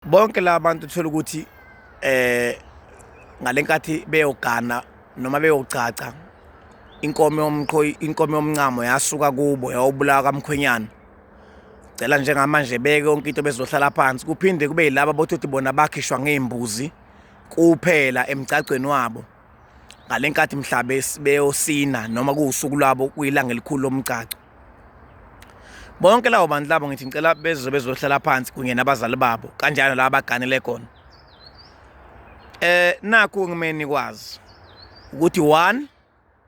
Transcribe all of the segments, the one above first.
bonke laba bantu thola ukuthi eh ngalenkathi beyogana noma beyogcaca inkomo yomqhoyi inkomo yomncamo yasuka kubo yawubulawa kamkhwenyana cela njengamanje beke yonke into bezohlala phansi kuphinde kube yilabo bothi bona bakhishwa ngeembuzi kuphela emgcagcweni wabo ngalenkathi mhlabe beyosina noma kuwusuku lwabo kuyilanga elikhulu lomgcagco bonke lawo bantu labo ngithi ngicela bezwe bezohlala phansi kunye nabazali babo kanjalo laba baganele khona eh nakho ngimeni kwazi ukuthi one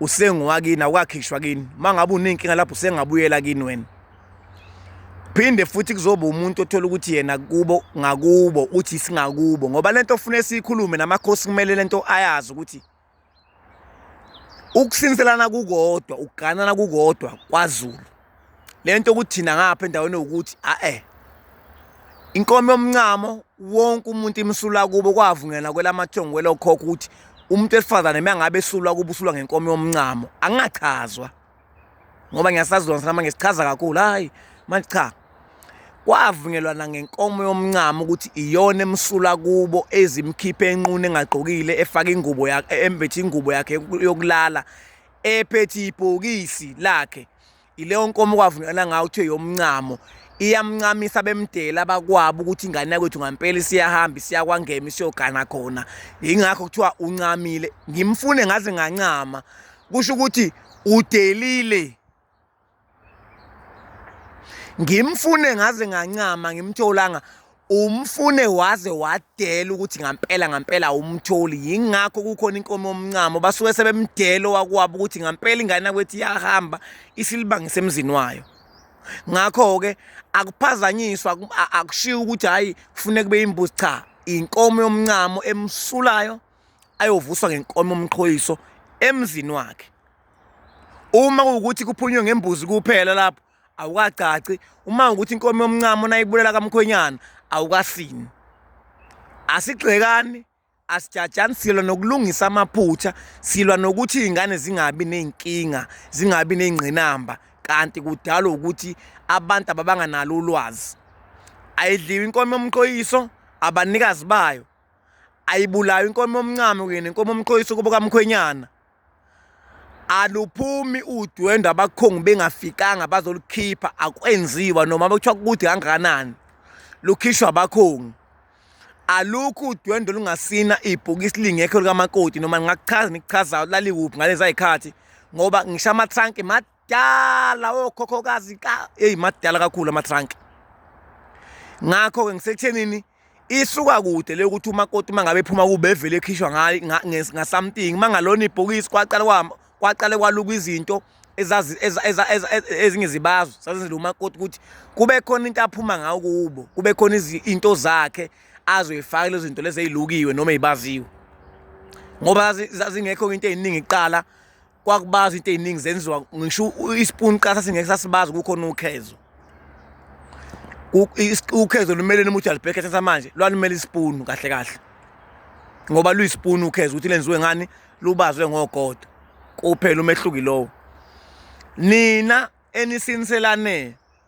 usengowakini awukakhishwa kini uma ngabe unenkinga lapho usengabuyela kini wena phinde futhi kuzoba umuntu othola ukuthi yena kubo ngakubo uthi singakubo ngoba lento ofuna esiyikhulume namakhosi kumele lento ayazi ukuthi ukusinselana kukodwa ukuganana kukodwa kwaZulu lento ukuthi thina ngapha endaweni ukuthi ae inkomo yomncamo wonke umuntu imsula kubo kwavungela kwelamathongo kwelokhokho ukuthi umuntu esifazane mangabe esulwa kuba usulwa ngenkomo yomncamo angingachazwa ngoba ngiyasazilona sana manje sichaza kakhulu hayi manje cha kwavunyelwana ngenkomo yomncamo ukuthi iyona emsula kubo ezimkhiphe enqunu engagqokile efaka ingubo yakhe embethe ingubo yakhe yokulala ephethe ibhokisi lakhe ileyo nkomo kwavunyelana ngayo kuthiwe yomncamo iyamncamisa bemdela abakwabo ukuthi ingane yakwethu ngampela siyahamba siyakwangema siyogana khona yingakho kuthiwa uncamile ngimfune ngaze ngancama kusho ukuthi udelile ngimfune ngaze ngancama ngimtholanga umfune waze wadela ukuthi ngampela ngampela awumtholi yingakho kukhona inkomo yomncamo basuke sebemdela owakwabo ukuthi ngampela ingane yakwethi iyahamba isilibangise emzini wayo ngakho-ke akuphazanyiswa akushiwo ukuthi hhayi kufuneka kube imbuzi cha inkomo yomncamo emsulayo ayovuswa ngenkomo yomqhoyiso emzini wakhe uma kuwukuthi kuphunywe ngembuzi kuphela lapho awukagcaci uma ukuthi inkomo yomncamo nayibulela kamkhwenyana awukasini asigxekani asijajani silwa nokulungisa amaphutha silwa nokuthi iy'ngane zingabi ney'nkinga zingabi ney'ngqinamba kanti kudalwa ukuthi abantu ababanganalo ulwazi ayidliwe inkomo yomqoyiso abanikazi bayo ayibulawe inkomo yomncamo kunye nenkomo yomqoyiso kubo kamkhwenyana aluphumi udwendwe abakhongi bengafikanga bazolukhipha akwenziwa noma bekuthiwa kude kangakanani lukhishwa abakhongi alukho udwendwe lungasina ibhokisi lingekho likamakoti noma ngingakuchaza nikuchazayo laliwuphi ngalezi ayikhathi ngoba ngisho amathanki Dala okhokhokazi ka hey madala kakhulu ama trunk. Ngakho ke ngisekuthenini isuka kude le ukuthi umakoti mangabe ephuma kube evele ekhishwa ngayi nga something mangalona ibhokisi kwaqala kwami kwaqale kwaluka izinto ezazi ezinye zibazo sazenzela umakoti ukuthi kube khona into aphuma ngayo kubo kube khona izinto zakhe azoyifaka lezo zinto lezi ezilukiwe noma ezibaziwe ngoba zazingekho into eziningi iqala kwakubazwa into eziningi zenziwa ngisho ispoon qasa singeke sasibazi kukhona ukhezo ukhezo lumele umuthi alibhekhe thatha manje lwalumele ispoon kahle kahle ngoba luyispoon ukhezo ukuthi lenziwe ngani lubazwe ngogodo kuphela umehluki lowo nina enisiniselane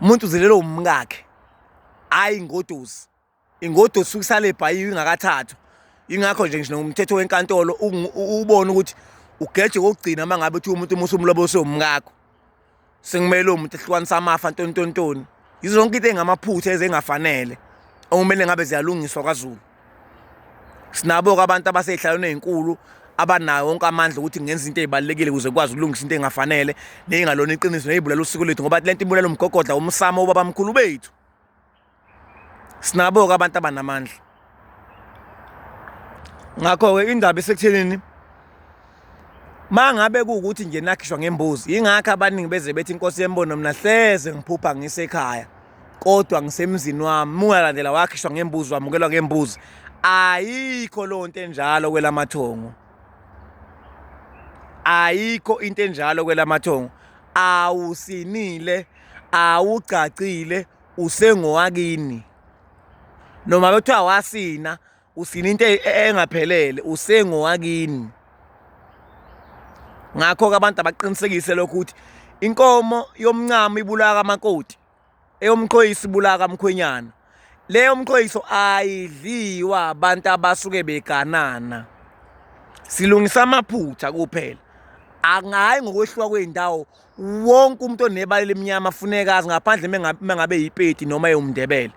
umuntu uzelelwe umkakhe hhayi ingodusi ingodusi usuke isale ebhayiwe ingakathathwa ingakho nje ngisho nomthetho wenkantolo ubone ukuthi ugeje kokugcina uma ngabe uthi umuntu umusa umlobo sewumkakho sekumele uwo muntu ehlukanisa amafa ntontontoni yizo zonke into engamaphutha ezengafanele okumele ngabe ziyalungiswa kwazulu sinabo-ke abantu abasey'hlalweni ey'nkulu abanayo wonke amandla ukuthi ngenza into ezibalekile ukuze kwazi ukulungisa into engafanele nezingalona iqiniso nezibulala usiko lethu ngoba lento ibulala umgogodla umsamo ubaba mkhulu bethu sinabo ke abantu abanamandla ngakho ke indaba esekuthenini mangabe kuukuthi nje nakhishwa ngembuzi ingakho abaningi beze bethi inkosi yembono mina hleze ngiphupha ngisekhaya kodwa ngisemzini wami mungalandela wakhishwa ngembuzi wamukelwa ngembuzi ayikho leyo nto enjalo kwelamathongo ayikho into enjalo kwelamathongo awusinile awugcagcile usengowakini noma bethiwa wasina usina into e-, e-, engaphelele usengowakini ngakho-ke abantu abaqinisekise lokho ukuthi inkomo yomncamo ibulawa kamakoti eyomqhoyisi ibulawa kamkhwenyana leyo mqhoyiso ayidliwa abantu abasuke beganana silungisa amaphutha kuphela angayi ngokwehluka kwey'ndawo wonke umuntu onebala elimnyama funeka azi ngaphandle mengabe yipeti noma ewumndebele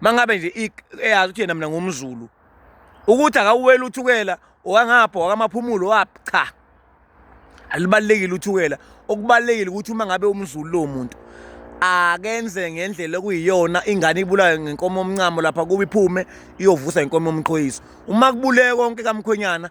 mangabe nje eyazi ukuthi yena mina ngumzulu ukuthi akawuwela uthukela owangapha wakamaphumulo waphi cha alibalekile uthukela okubalekile ukuthi uma ngabe umzulu lo muntu akenze ngendlela okuyiyona ingane ibulawe ngenkomo omncamo lapha kuba iphume iyovusa inkomo omqhoyiso uma kubuleke konke kamkhwenyana